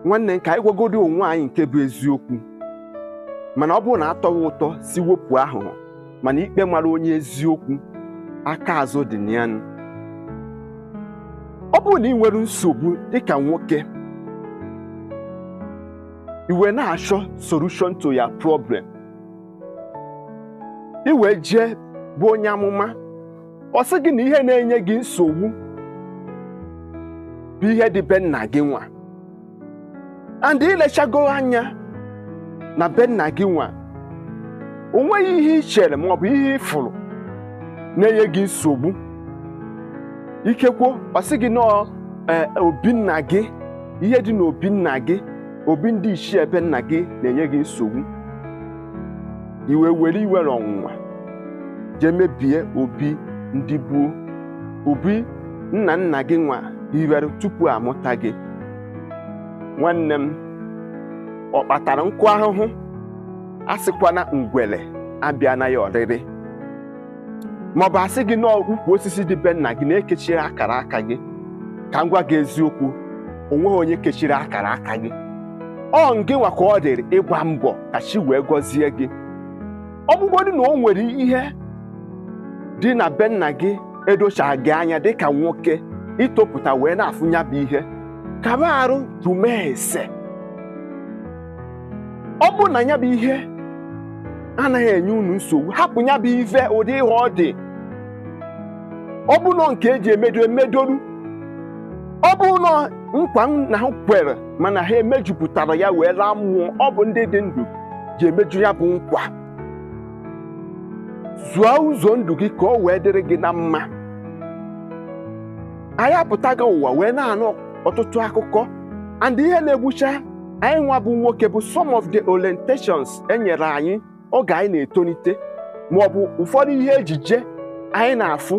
nwanne ka anyị gwagodi onwe anyị nke bụ eziokwu mana ọ bụrụ na atọwa ụtọ si wepụ aghụghọ mana ikpe mara onye eziokwu aka azụ dị na ya nụ. ọ bụrụ na ị nwere nsogbu dịka nwoke i wee na-achọ solution to your problem i wee jee be onye amụma ọ sị gị na ihe na-enye gị nsogbu bụ ihe dị be nna gị nwa and i lechago anya na be nna gị nwa o nweghị ihe i chere ma ọ bụ ihe ị fụrụ na-enye gị nsogbu ikekwo ọ sị gị na ọọ ee obi nna gị ihe dị n'obi nna gị obi ndị ichie be nna gị na-enye gị nsogbu i wee were iwe na ọnụma jee mebie obi ndị gboo obi nna nna gị nwa hiwere tupu a mụta gị nwanne m ọ kpatara nkụ ahụhụ asịkwana ngwere abịana ya ọrịrị maọbụ a sị gị na ukwu osisi dị be nna gị na e kechiri akara aka gị ka m gwa gị eziokwu o nweghị onye kechiri akara aka gị ọ ngị nwa ka ọ dịrị ịgba mbọ ka chi wee gọzie gị ọ bụgodị na o nwere ihe dị na be nna gị edochaghị gị anya dịka nwoke i topụta wee na-afụ nya bụ ihe kaba arụ jụma ese ọ bụ na ya bụ ihe anaghị enye unu nsogbu hapụ ya bụ ife ụdị ihe ọ dị ọ bụrụ na ọ nke eji emedo emedoru ọ bụrụ na ọ nkwa na ha kwere mana ha emejupụtarọ ya wee laa mmụọ ọ bụ ndị dị ndụ ji emeju ya bụ nkwa zụọ ụzọ ndụ gị ka ọ wee dịrị gị na mma anyị apụtago ụwa wee na-anụ ọtụtụ akụkọ and ihe na-egbucha anyị nwa bụ nwoke bụ some of the orientations e nyere anyị oge anyị na-etonite ma ọ bụ ụfọdụ ihe ejije anyị na-afụ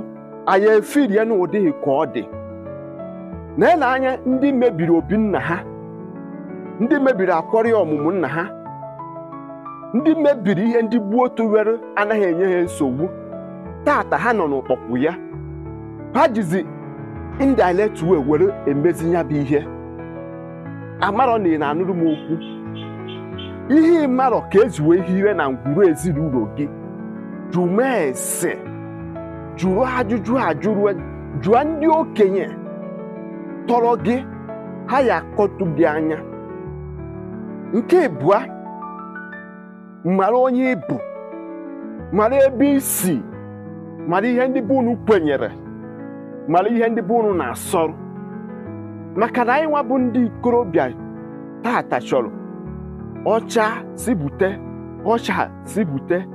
anyị efiri ya n'ụdịghị ka ọ dị na i lee anya ndị mebiri obi nna ha ndị mebiri akwarị ọmụmụ nna ha ndị mebiri ihe ndị gboo tụwere anaghị enye ha nsogbu tata ha nọ na-akpọku ya ha jizi indirect way were emezi ya bụ ihe amarọ na ị na-anụrụ m okwu ihe ị marọ ka e ji wee hire na ngwuru ezinụlọ gị jụma ese jụrụ ajụjụ ajụrụ jụọ ndị okenye tọrọ gị ha ya-akọtụ gị anya nke abụọ mara onye ị bụ mara ebe i si mara ihe ndị be unu kwenyere mara ihe ndị be unu na-asọrọ maka na anyị nwa bụ ndị ikorobịa taata chọrọ ọcha si bute ọcha si bute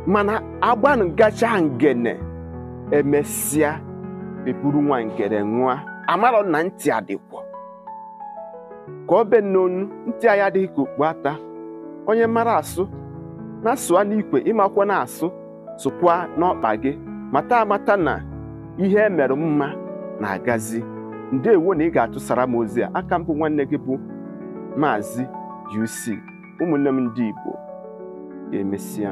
mana agbanụ gacha ngene emesịa eburu nwa ngene ṅụa amarọ na ntị adịkwọ ka ọ be n'onu ntị anyị adịghị ka okpu ata onye mara asụ nya sụa n'ikwe ị makwọnụ asụ sụkwa n'ọkpa gị mata amata na ihe e mere mma na-agazi ndewo na ị ga-atụsara m ozi a a ka m bụ nwanne gị bụ maazị UC ụmụnne m ndị Igbo ka emesịa